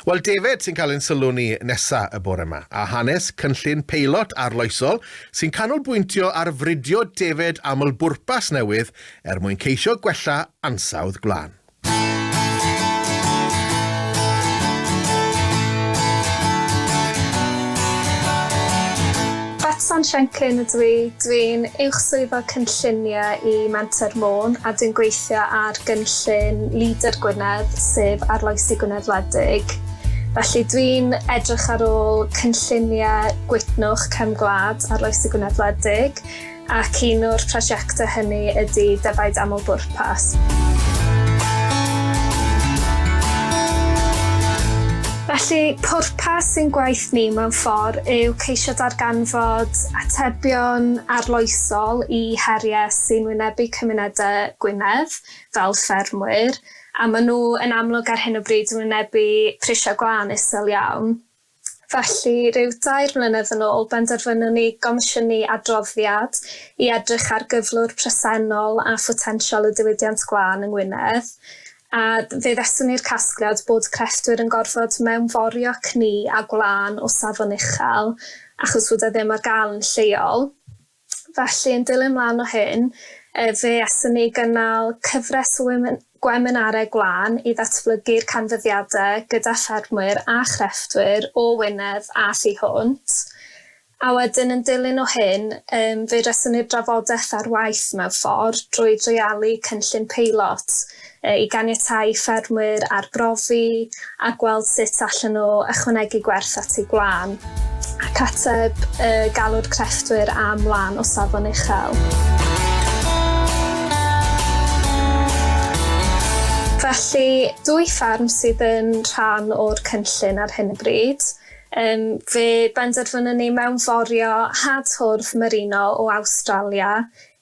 Wel, defaid sy'n cael ein sylw ni nesa' y bore 'ma, a hanes cynllun peilot arloesol sy'n canolbwyntio ar fridio defaid aml-bwrpas newydd er mwyn ceisio gwella ansawdd gwlân. Betsan Shanklin ydw i, dwi'n Uwch Swyddog Cynlluniau i Menter Môn a dwi'n gweithio ar gynllun Leader Gwynedd, sef Arloesi Gwynedd Wledig. Felly dwi'n edrych ar ôl cynlluniau gwytnwch cefn gwlad Arloesi Gwynedd Wledig, ac un o'r prosiectau hynny ydy Defaid Amlbwrpas. Felly, pwrpas ein gwaith ni mewn ffordd yw ceisio darganfod atebion arloesol i heriau sy'n wynebu cymunedau Gwynedd, fel ffermwyr, a maen nhw yn amlwg ar hyn o bryd yn wynebu prisiau gwlân isel iawn. Felly, rhyw dair mlynedd yn ôl, benderfynwn ni gomisiynu adroddiad i edrych ar gyflwr presennol a photensial y diwydiant glân yng Ngwynedd, a fe ddeswn i'r casgliad bod crefftwyr yn gorfod mewnforio cni a gwlân o safon uchel achos fod e ddim ar gael yn lleol. Felly, yn dilyn mlaen o hyn, fe aethon ni gynnal cyfres o gweminarau gwlân i ddatblygu'r canfyddiadau gyda ffermwyr a chrefftwyr o Wynedd a thu hwnt. A wedyn, yn dilyn o hyn, fe resoni'r drafodaeth ar waith mewn ffordd drwy dreialu cynllun peilot i ganiatáu i ffermwyr arbrofi a gweld sut allen nhw ychwanegu gwerth at eu gwlân, ac ateb y galw'r crefftwyr am wlân o safon uchel. Felly, dwy fferm sydd yn rhan o'r cynllun ar hyn o bryd. Um, fe benderfynwn ni mewnforio had hwrdd merino o Awstralia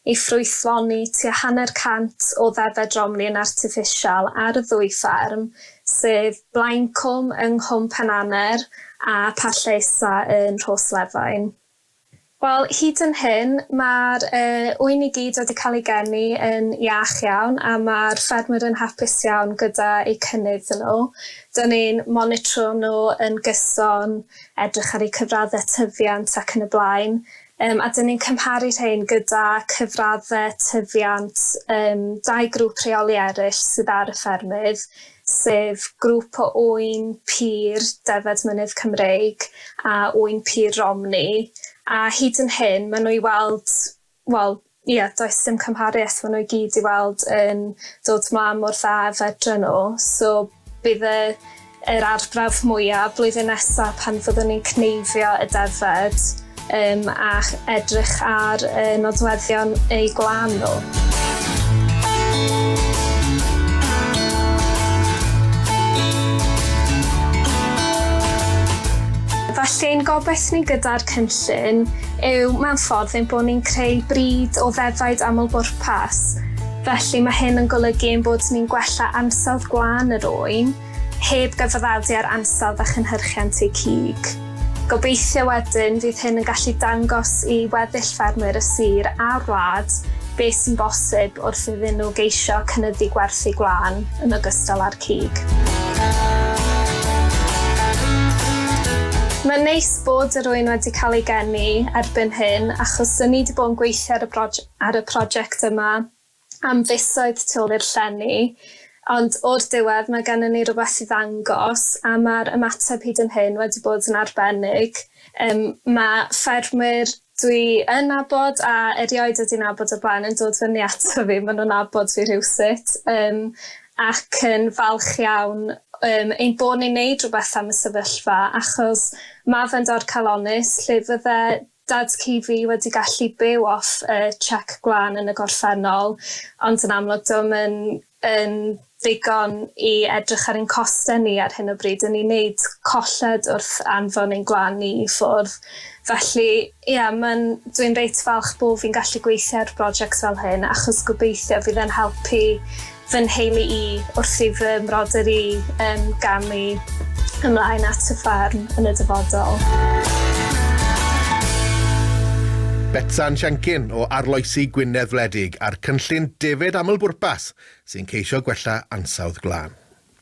i ffrwythloni tua hanner cant o ddeddfau dromlin artiffisial ar y ddwy fferm, sef Blaencwm yng Nghwm Penaner a Parllaesa yn Rhoslefain. Wel, hyd yn hyn, mae'r ŵyn i gyd wedi cael ei geni yn iach iawn a mae'r ffermwyr yn hapus iawn gyda eu cynnydd nhw. Dŷn ni'n monitro nhw yn gyson, edrych ar eu cyfraddau tyfiant ac yn y blaen, Yym, a 'dyn ni'n cymharu rhein gyda cyfraddau tyfiant yym dau grŵp rheoli eraill sydd ar y ffermydd, sef grŵp o ŵyn pur defaid mynydd Cymreig a ŵyn pur Romney, a hyd yn hyn maen nhw i weld, wel, Ie, does dim cymharu ers maen nhw i gyd i weld yn dod mlaen mor dda fedre nhw. So bydd y, yr arbrawf mwyaf blwyddyn nesa pan fyddwn ni'n cneifio y defaid um, a edrych ar y nodweddion eu gwlân nhw. Felly ein gobaith ni gyda'r cynllun yw mewn ffordd ein bod ni'n creu brîd o ddefaid aml-bwrpas, felly mae hyn yn golygu ein bod ni'n gwella ansawdd gwlân yr ŵyn, heb gyfaddadu â'r ansawdd a chynhyrchiant eu cig. Gobeithio wedyn fydd hyn yn gallu dangos i weddill ffermwyr y sir a'r wlad beth sy'n bosib wrth iddyn nhw geisio cynyddu gwerthu gwlân yn ogystal â'r cig. Mae'n neis bod yr ŵyn wedi cael ei geni erbyn hyn achos dyn ni 'di bod yn gweithio ar y broj- ar y prosiect yma am fisoedd tu ôl i'r llenni ond o'r diwedd mae gennym ni rywbeth i ddangos a mae'r ymateb hyd yn hyn wedi bod yn arbennig. Yym mae ffermwyr dwi yn nabod a erioed wedi nabod o blaen yn dod fyny ato fi ma' nw'n nabod fi rhywsut yym ac yn falch iawn yym ein bo' ni'n neud rwbeth am y sefyllfa achos ma' fe'n dorcalonnus lle fydde dad cu fi wedi gallu byw off yy chec gwlân yn y gorffennol ond yn amlwg 'di o'm yn yn ddigon i edrych ar ein costau ni ar hyn o bryd, yn ni'n neud colled wrth anfon ein gwan ni i ffwrdd. Felly, ia, mae'n... dwi'n reit falch bod fi'n gallu gweithio ar brosiect fel hyn, achos gobeithio fydd e'n helpu fy nheulu i wrth i fy mrodyr i um, gamu ymlaen at y ffarm yn y dyfodol. Betsan Siencyn o Arloesi Gwynedd Wledig. ac a'r cynllun defaid aml-bwrpas sy'n ceisio gwella ansawdd glân.